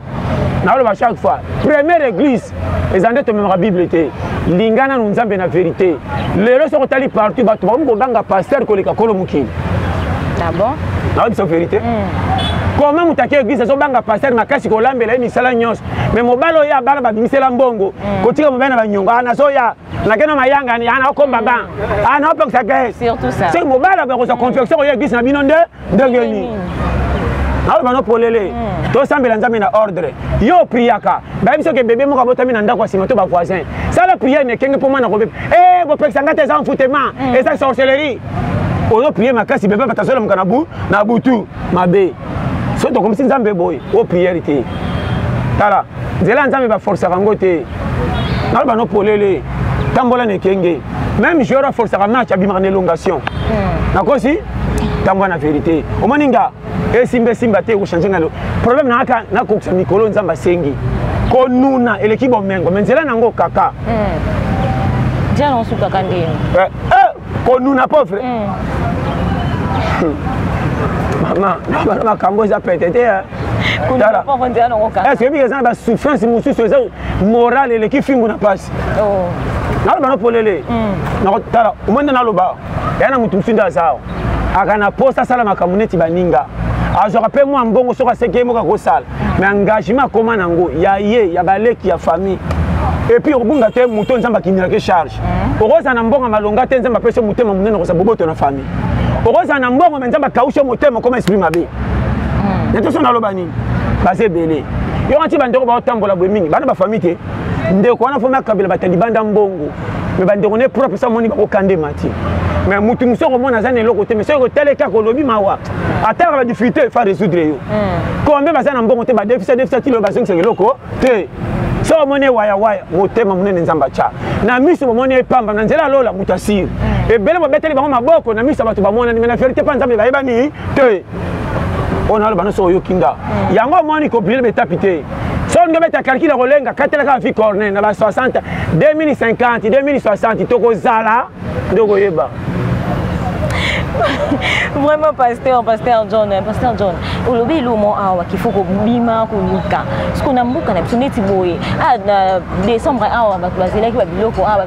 naloba chaque fois première église eza nde tomemaka bible te linga nanu nzambe na verité lelo soki otali partout bato bakomi koganga paster koleka kolo mokili ah naobiso verité hmm. comment moto ake église azobanga paster makasi kolambela ye misala nyonso me mobali oyo abana babimisela mbongo hmm. kotika mobali na banyongo ah, nazoya nake na mayangani ana ah, okomba ba ana ah, opekisa gres soki mobali akozwa hmm. confiance oyo église na bino nde ndenge nini aloba no polele hmm. tosambela nzambe na ordre yo priaka bayebi soki bebe moko abotami na ndako ya nsima to bavoisin sala priere na ekenge mpo mwana kobeba e eh, bopekisa ngai te eza mfutema hmm. eza sorcellerie ozo priere makasi bebe bato azolamuka na butu mabe soki tokomisi nzambe boye o priere te tala nzela ya nzambe baforsaka yango te naloba no polele tambola na ekenge meme joueur aforsaka match abimaka na elongation hmm. nakosi tambola na verité omoni nga esimba esimba te ekochange ngalo problème na kaka nakokisa mikolo nzambe asengi konuna eleki bomengo me nzela na yango kaka hmm. jana osukaka ndeni eh, eh, konuna pauvre mm. mama bana makambo eza pete te eske ebika eza na basouffrance mosusu eza morale eleki fimbu na mpasi oh. naloba na polele mm. nakotala omoi nde naloba ya na motu mosusu nde aza awa aka na posa asala makambo neti baninga azwaka mpe mwa mbongo soki aseki ye moko akosala mais engagement akoma nango ya ye ya baleki ya famille epuis okobunga te moto nzambe akindelaki charge mm. okozala na mbongo malonga te nzambe apesi motema monene okozala boboto na famille okozala na mbongo me nzambe akaushe motema okoma esprit mabe mm. na toso naloba nini baza ebele yo kanti bandeko baotambola boye mingi bana bafamille te ndeko wana fomi akabela batalibanda mbongo me bandeko ne propre sa omoni bango kande mati me motu mosu okomona aza na eloko te me soki otali kaka olobi mawa ataka badifficulté efa résoudre yo hmm. kombe baza na mbongo te badefisa defisa tilo bazongisaka eloko te so omoni wayawaya motema monene nzambe atya na miso bomoni epamba na nzela ya lola moto asiri hmm. ebele babeteli bango maboko na miso ya bato bamonani me na verité mpa nzambe bayebani te oyo naloba nyonso oyoki nga mm. yango omoni kopilele betapi te soki nde beta kalkile kolenga katelaka bafi corne na ba 60 2050 2060 tokozala nde okoyeba vraiment pasteur pasteur john eh, pasteur john olobi elomo awa kifo kobima koluka siko na mboka na biso neti boye a ah, na décembre awa bato bazelaki babiloko awa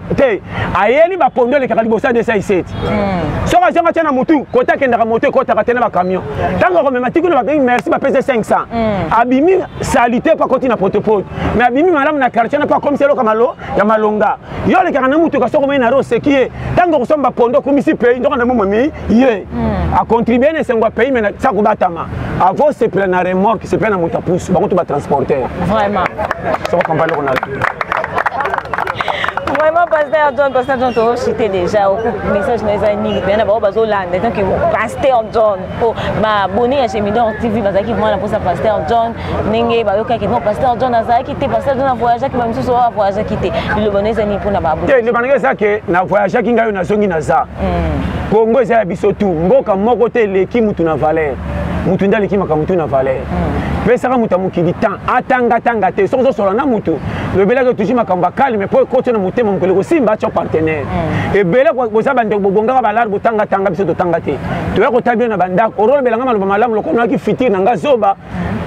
te ayeli bakondo elekaka liboso ya 217 hmm. soki azonga atya na motu kota akendaka moto ekotaka te na bacamion ntango akomema tikuna babengi merci bapesa 500 hmm. abimi salite mpo akoti na potopoto mais abimi malamu na quartier na mpo akomisi eloka malo ya malonga yo olekaka na motuka soki omei na ro oseki ye ntango okosomba bakondo okumisi pei ndoko na momemi ye hmm. acontribue na esengo ya pays me sa kobatama akosepela na remorke sepela na moto ya pusu bango to batransporter vraiment soko kampani eloko na vraiment pasteur john pasteur john tozochite déjà message na eza nini pena bango bazolanda donc pasteur john po babone ya gemidor tv bazalaki vraiment na mposa pasteur john ndenge bayokaki non pasteur john azalaki te pasteur john avoyageaki bamisusu oyo avoyageaki te liloba na eza nini mpona babonelobandaki eza ke na voyageaki ngai oyo nazongi naza hmm. congo eza ya biso tu mboka moko te eleki mutu na valeur mutu nde aleki makambo tu na valeur hmm. pesaka moto ya mokili temps atangatanga te soki ozosola na motu lobelaki otuji makambo akalme mpo ekoti na motema mokili kosimba atyo partenaire hmm. ebele boza bandeko bobongaka balare botangatanga biso totanga te toya kotala bino na bandako orolobelanga maloba malamu lokola noyaki fitire na nga zoba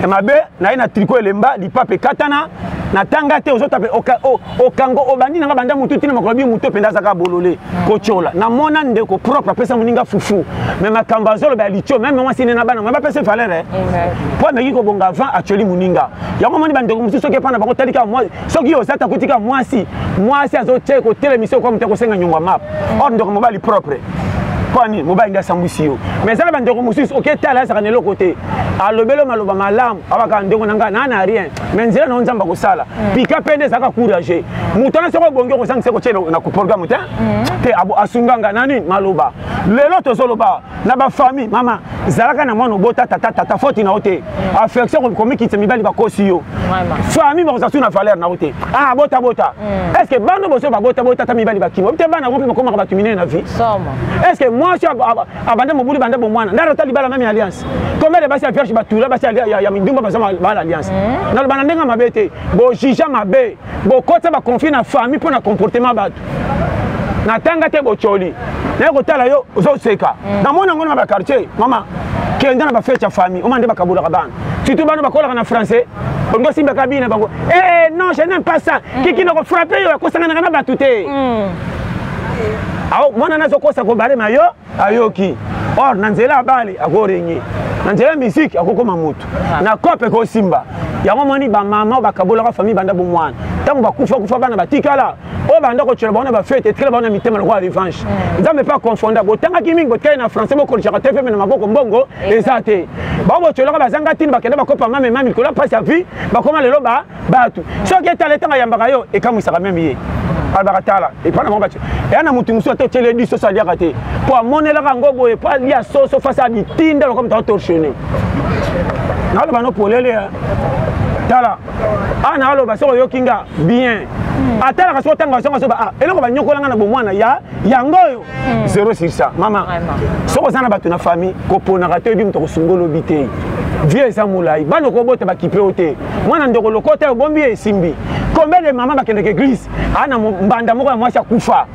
ya mabe naye na triko elemba lipape ekatana natanga te ozotape okango obandi nanga banda motu ntina makolo bi moto mpenza azaka bolole kotyola namona ndeko propre apesa moninga fufu me makambo azoloba ya litio meme mwasi nde na bana mwe bapesa valere mpo ameki kobonga avant atyoli moninga yango omoni bandeko mosusu soki epai na bango talika soki yo ozata kotika mwasi mwasi azotia kotelemisa yo kwa moto akosenga nyongo map mm. or ndeko mobali propre kwani mobali nde asambwisi yo mais ezala bandeko mosusu oke tala azaka na eloko te alobelo maloba malamu abaka ndeko na ngai naa na rien mais nzela nango nzambe akosala mm. pika mpe nde ezalaka courage moto wana soki obongi okosangisa kotie na programme te mm. te asunga ngai na nini maloba lelo tozoloba na bafamille mama zalaka na mwana obota tata tata foti na yo te mm. affection komikitisa mibali bakosi yo famille bakozala su na valeur na yo te ah bota bota mm. est ce que bana boso babota bota ata mibali bakima te bana yango mpe bakomaka bato minene na vie est ce que mwasi abanda mobulu banda bomwana ndara ata libala meme alliance combien de basi ya vierge batula basi ya mindumba baza bala alliance mm. naloba na ndenge mabe te bojija mabe bokotisa baconflit na famille mpo na comportement bato natanga te bocoli naye kotala yo ozoseka mm. namoni yango na baquartier mama kenda na bafete ya famille oma nde bakabolaka bana surtout bana bakolaka na français olingi osimbaka bina bango ee eh, eh, non je n'aime pas ça mm. kiki na kofrape yo akosanganaka na bato te mm. mwana nazokosa kobalema yo ayoki or na nzela ya bale akorenye na nzela ya miziki akokoma motu ah. na cope ekosimba yango moni bamama bakabolaka famille banda bomwana ntango bakufa kufa bana batikala oyo banda kotyola bango na bafete etikala bango na mitema lokola revanche hmm. nzambe mpe akonfonda botangaki mingi botikali na français bokolisaka te mpe na maboko mbongo eza te bango botyolaka bazanga ntina bakenda bakopa mamema mikolo ya mpasi ya vie bakoma lelo ba batu soki etala etanga yambaka yo ekamwisaka meme ye alobaka tala epa na mabati eya na motu mosusu ata otyeli edi soso aliaka te mpo amonelaka yango boye mpo alia soso fasi ya bitinda lokola moto atorsione naloba no polele eh. tala a naloba soki oyoki nga bien atalaka soki otanga zonga soba ah, eloko banyokolanga na bomwana ya yango oyo hmm. zero sur ça mama soki oza na bato na famille koponaka te oyebi moto akosunga olobi te vie eza molai bana okobota bakipe yo te mwana ndeko lokota obombi ye esimbi combien de mama bakendeke église aa na mbanda moko ya mwasi akufa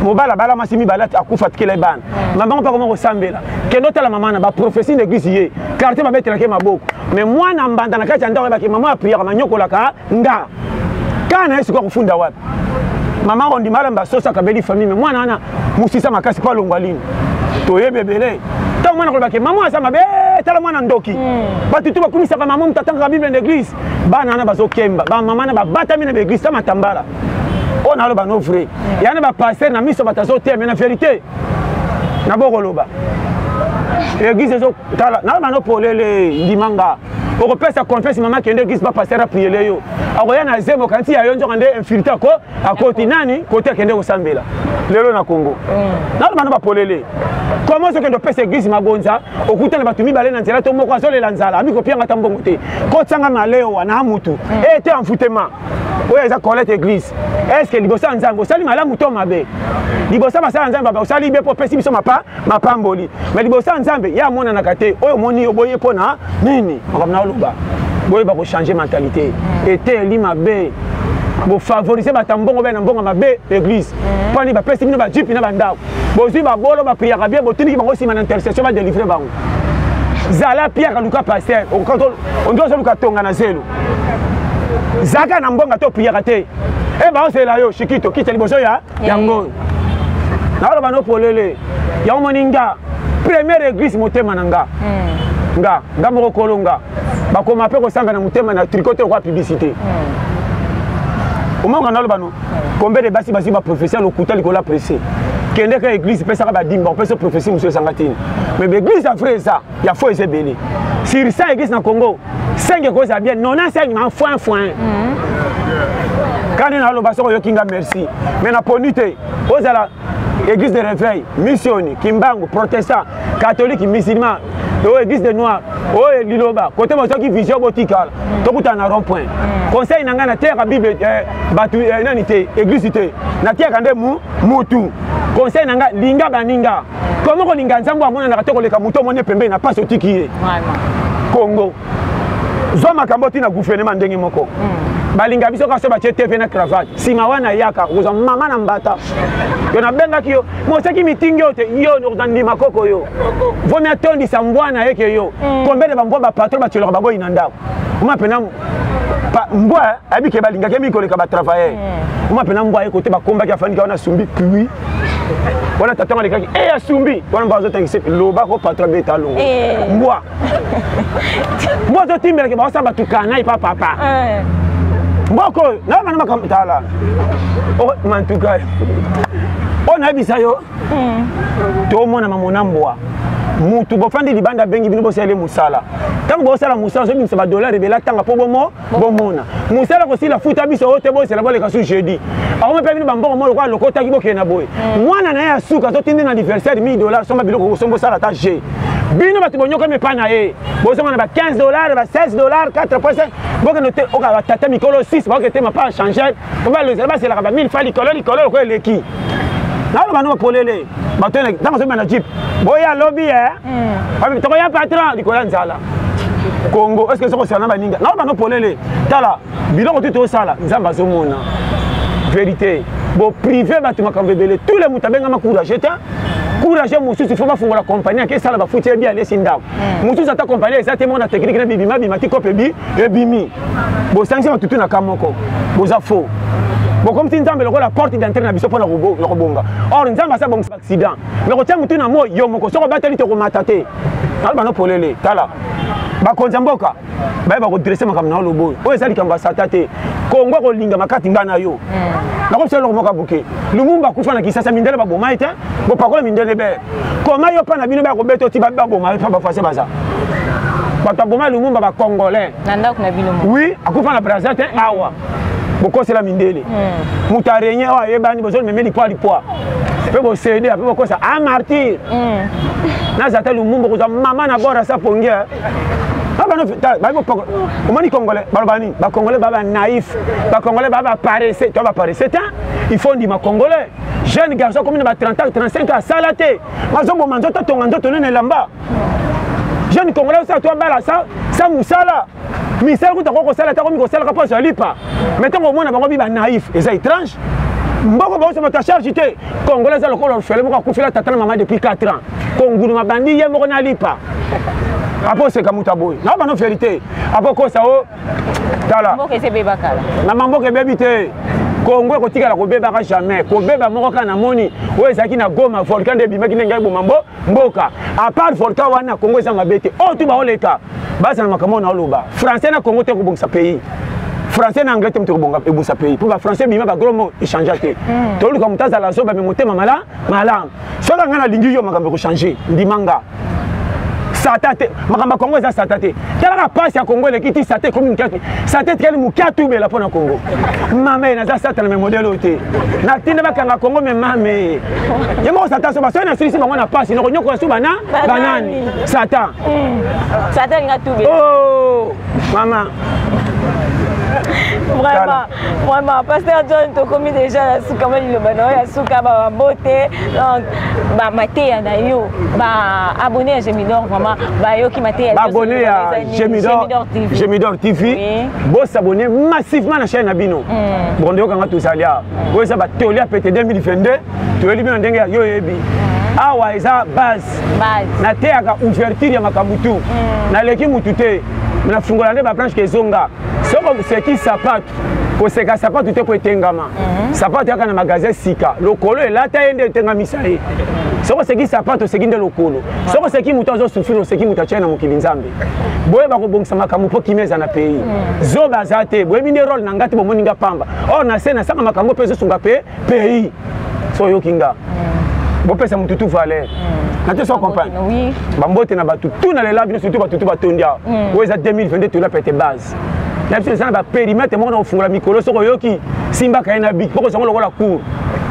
mobala bala mwasi mibale akufa atikela ye bana mama ngo mpe akoma kosambela kende otala mama na baprofesi na eglise ye quartier babetelaka ye maboko mais mwana mbanda na kati ya ndako yebaki mama apriyaka manyokolaka nga kaa na ye sikoya kofunda wapi mama ondima alamba soso akabeli famille mwana wana mosisa makasi mpo alongwa lini toyebi ebele ntango mwana kolobake mama aza mabe eh, tala mwana ndoki hmm. bato tu bakumisaka mama moto atangaka bible na église bana wana bazokemba bamama na babatami na baeglise ta matambala oyo naloba no vrai hmm. yana bapaster na miso bato azoteme na verité nabokoloba eglise ezotala naloba no polele ndimanga okopesa confiance mama kende eglise pa pasteur apriele yo akoya na zemi okanisi ya yo nzoka nde infiltre ako akoti nani kote akende kosambela lelo na congo mm. naloba na bapolele koma ozokende opesa eglise magonza okutana bato mibale na nzela to moko azolela nzala amikopianga ata mbongo te kotyanga malewa na mutu mm. e te envoutema oyo eza colete église estce liboso ya nzambe osali malamu to mabe liboso basala ya nzambe osali be mpo opesi biso mapa mapamboli mai liboso ya nzambe ye amonanaka te oyo omoni yo boye mpo na nini makambo na oloba boyeba kochange mentalité eteyeli mabe bofavorise bato ya mbongo bee na mbongo mabe église mhm. mpo nini bapesi bino bajipi na bandako bozwi babolo bapriyaka bie botindiki bango nsima na intercession badelivre bango zala piaka luka paster ondi ozoluka tonga na zelo zalaka na mbonga to priaka te e baosalela yo shikito kita liboso ya yango naoloba no polele yango moni nga première église motema na nga hmm. nga nga moko kolo nga bakoma mpe kosanga na motema na tricote okwa publicité hmm. omonga naloba no hmm. combien de basi bazwi baprofesi ya lokuta likolo ya presse kendeka église epesaka badimba opesa profesi mosusu ezanga tini mais baeglise ya vrai eza ya fo eza ebele sur 100 eglise na congo 5 ekozala bien 95 na foin foin mhm. kani naloba soko oyoki nga merci mais naponi te ozala église de réveil missioni kimbangu protestant catholique musulman oyo oh, église de noir oyo oh, liloba kote bozoki vision botikala tokutana na rond point mm. conseil na ngai nateyaka bible eh, bato eh, nani te église te nateyaka nde mutu conseil na ngai linga baninga Comment on inga nzambo amona na katoko leka muto mone pembe na paso tiki ye. Congo. Zwa makambo tina gouvernement ndenge moko. Hmm. balinga biso kasi batye tv na cravate nsima wana yaka okozwa mama na mbata yo nabengaki yo moseki mitingi oyo te yo okozwa ndima koko yo vomi atondisa mbwa na ye ke yo hmm. kombele bambwa bapatro batyolaka baboyi na ndako oma mpena mbwa ayebi ke balingaki mingi koleka batravailleur hmm. oma mpena mbwa ye kote bakombaki afandika wana asumbi pui wana tata ngo alekaki e asumbi wana mba azotangisa loba ko patro abeta alongo eh. mbwa mbwa azotimbelake baosa batukana epa papa eh. mboko oyo na bana makambo tala mantuka oyo nayebisa yo hmm. tomona mamona mbwa mutu bofandi libanda abengi bino bosalele mosala ntango bosala mosala ozobimisa badollar ebela ntanga mpo bomo bomona mosala kosila futa biso oyo te bozela boleka su jeudi akomi mpe bino bambongo moko lokola lokotaki bokende na boye mm. mwana na ye ya suka azotindi na anniversaire 1000 dollars somba biloko kosomba osala ata je bino bato bonyokami epai na ye bozonga na ba 15 dollars ba 16 dollars 4 poise bokende batata mikolo 6 baoketema pa changer Papa Loza ba selaka ba mille fois likolo likolo ko eleki. Na loba no polele. Bato na tango so na jeep. Boya lobby eh. Hmm. Papa toko ya patron likolo nzala. Congo est-ce que soko sana ba ninga. Na loba no polele. Tala biloko tout osala nzamba zo mona. Vérité. Bo privé bato makambo ebele. Tous les mutabengama courage te. Courage mosusu faut bafungola compagnie akesala bafuti ye bien alesi ndako. hmm. mosusu ata compagnie eza te moko na teknike na bibima bima ti kope bi ebimi bosangisi matutu na ka moko boza faux bokomisi nzambe lokola porte d'entrée na biso mpo na kobonga or nzambe asi abongisa accident me kotya motu na moi yo moko soki obateli te okomata te alobano polele tala bakonzi ya mboka bayeba kodresse makambo na yo lobo oyo oyo eza likambo ya sata te kongo akolinga makati ngai na yo hmm. nakobisa eloko moko abuke lumumba akufa na kisasa mindele baboma ye te bopakola mindele bee koma yo mpa na bino bakobeta oti baboma yo mpa bafase baza bato aboma lumumba bacongolais oui akufa na braza te awa bokosela mindele hmm. moto arenye oyo ayebani bozomeme lipwa lipwa mpe bosede ape bokosa a ah, martyr hmm. naza ata lumumba kozwa mama na bora sa pongi omoni congolais baloba nini bacongolais baba naïf bacongolais baba paresse to baparesse te il faut ndima congolais jeune garçon akomi na ba 30 ans 35 ans asala te mazoboma nzoto atonga nzoto nene elamba jeune congolais osala to abala sa mosala misala kuta ko kosala te akomi kosalaka mpo azwa lipa mai ntango omona bango bi banaïf eza étrange mboko baoso bato ya charge te congolais aza lokola orfele moko akufela tata na mama depuis 4 ans konguluma bandi ye moko na lipa apo oseka moto aboyi na bano fieri te apo kosa o tala na mamboka ebebi te kongo ekotikala kobebaka jamais kobeba moko kaka namoni oyo ezalaki na goma volcan nde ebimaki ndenge eboma mbo mboka apart volcan wana kongo eza mabe te oyo oh, tu baoleka bazala makambo na oloba français na kongo te kobongisa pays français na anglais te moto ekobonga ebongisa pays mpo bafrançais ebima bagro mo echangea te hmm. toluka moto azala zoba me motema mala malamu soki ngai nalingi yo makambo ekochange ndima nga sata te makambo ya kongo eza sata te talaka mpasi ya kongo eleki ti sata ekomi moke sata etikali moke atubela mpo na kongo mame naza sata na me modele oyo te natinda bakanga kongo me mame ye moko sata so basoki nasilisi bango na mpasi nokonyokola su bana banani sata hmm. sata elinga tubela oh, mama vraiment vraiment pasteur john tokomi deja na suka mwa liloba na yo ya suka babote donc bamateya na yo baabonne ya gemidor vraiment bayoki mateya baabonne ya gemidor tv bosabonne massivement na chaine na bino mm. bokondo yokanga tozali awa mm. oyo eza batoli ya pete 2022 toyeli bino ndenge ya yo oyebi mm. awa eza base nateyaka ouverture ya makambo tu naleki motu te nafungola nde baplanche ke ezonga soki oseki sapatu koseka sapatu te ko etengama mhm. sapatu yaka na magasin sika lokolo elata ye nde etengamisa ye soki oseki sapatu oseki nde lokolo soki oseki moto azosufiri oseki moto atye na mokili nzambe boyeba kobongisa makambo mpo kimia eza na pays mhm. zoba aza te boyebi nde role na ngai te bomoni nga pamba or na se nasanga makambo mpe ezosunga mpe pays so oyoki nga mm. bopesa motu tu valeur mm. nate so comprendre bambote na bato tu na lela bino surtout bato tu batondi awa mm. oyo eza 2022 tola pete base na biso eza na baperimetre moko na kofungola mikolo soki oyoki simbaka ye na bik mpo kozango lokola cour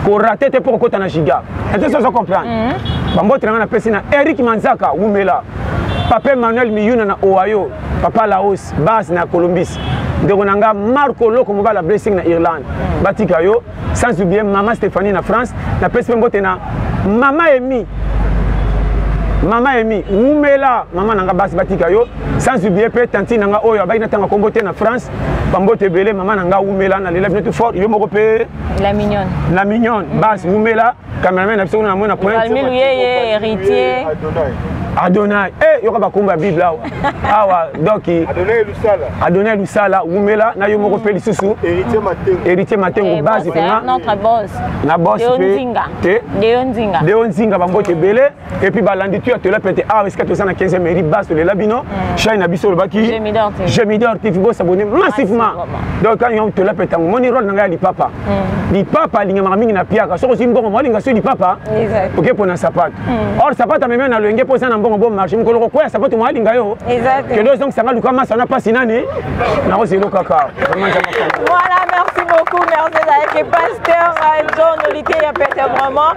korate te mpo kokota na giga nate so ozo comprendre mm-hmm. bambote na nga napesi na eric manzaka wumela papa emmanuel miyuna na ohio papa laos base na colombis ndeko na nga marco loko mobala blessing na irlande mm. batika yo sans oublier mama stéphanie na france napesi mpe mbote na mama emi mama emi wumela mama na nga basi batika yo sans oublier mpe tantine na nga oyo abaki natanga kombo te na france bambote ebele mama na nga wumela nalela bino tu fort yo moko mpe la mignonne la mignonne basi wumela cameraman na biso kuna namona pointevalmi luyeye héritier adonai e eh, yoka bakombo ya bible awa awa doki adonai lusala wumela na yo moko mpe lisusu héritier matengo eh, base mpena na bos mpe deo nzinga bambote ebele et puis balandi tu atola pete awa esika toza na 15 mairie base tolela bino chai na biso olobaki gemidor tv bosabone massivement donc quand yango tola pete yango moni role na ngai ya lipapa lipapa alingamaka mingi na piaka soki ozwi mbongo moalinga soki lipapa oke mpo na sapato or sapato amemi na loyenge mpo eza na mbongo bo marché mokolo kokwea sapato moalinga yo kende ozongisanga luka masa na mpasi nani nakozelo kaka Voilà, merci beaucoup. Merci avec le pasteur John Olité, peut-être vraiment.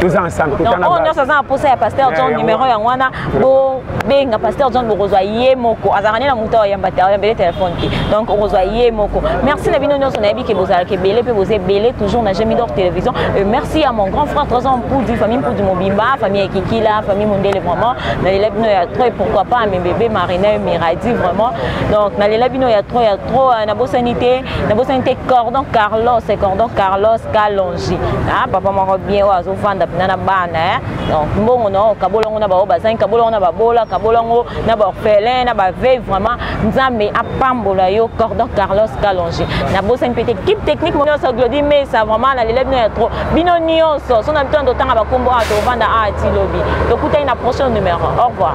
toza ensemble totana oyo nyonso aza na posa ya pasteur john numero yango wana bobenga pasteur john bokozwa ye moko azalaka nde na moto ayamba te ayambele telefone te donc okozwa ye moko merci na bino nyonso nayebi ke bozalaka ebele mpe boza ebele toujours na jemi d'or télévision et merci à mon grand frère trésor mpudi famille mpudi mobimba famille ekikila famille mondele vraiment nalela bino ya trop et pourquoi pas mebebe marina miradi vraiment donc nalela bino ya trop ya trop nabosani te nabosani te cordon carlos cordon carlos calon ah papa moko bien oyo azovanda mpena na bana eh? donc mbongo na okabola yango na baoyo bazangi kabola yango na babola kabola yango na baorphelin na bavei vraiment nzambe apambola yo cordon carlos kalonge nabosani mpe te kipe technique mo nyonso glodi mesa vraiment na lele bino ya trop bino nyonso so na bito na totanga bakombo awa tovanda awa ti lobi tokutani na prochain numéro au revoir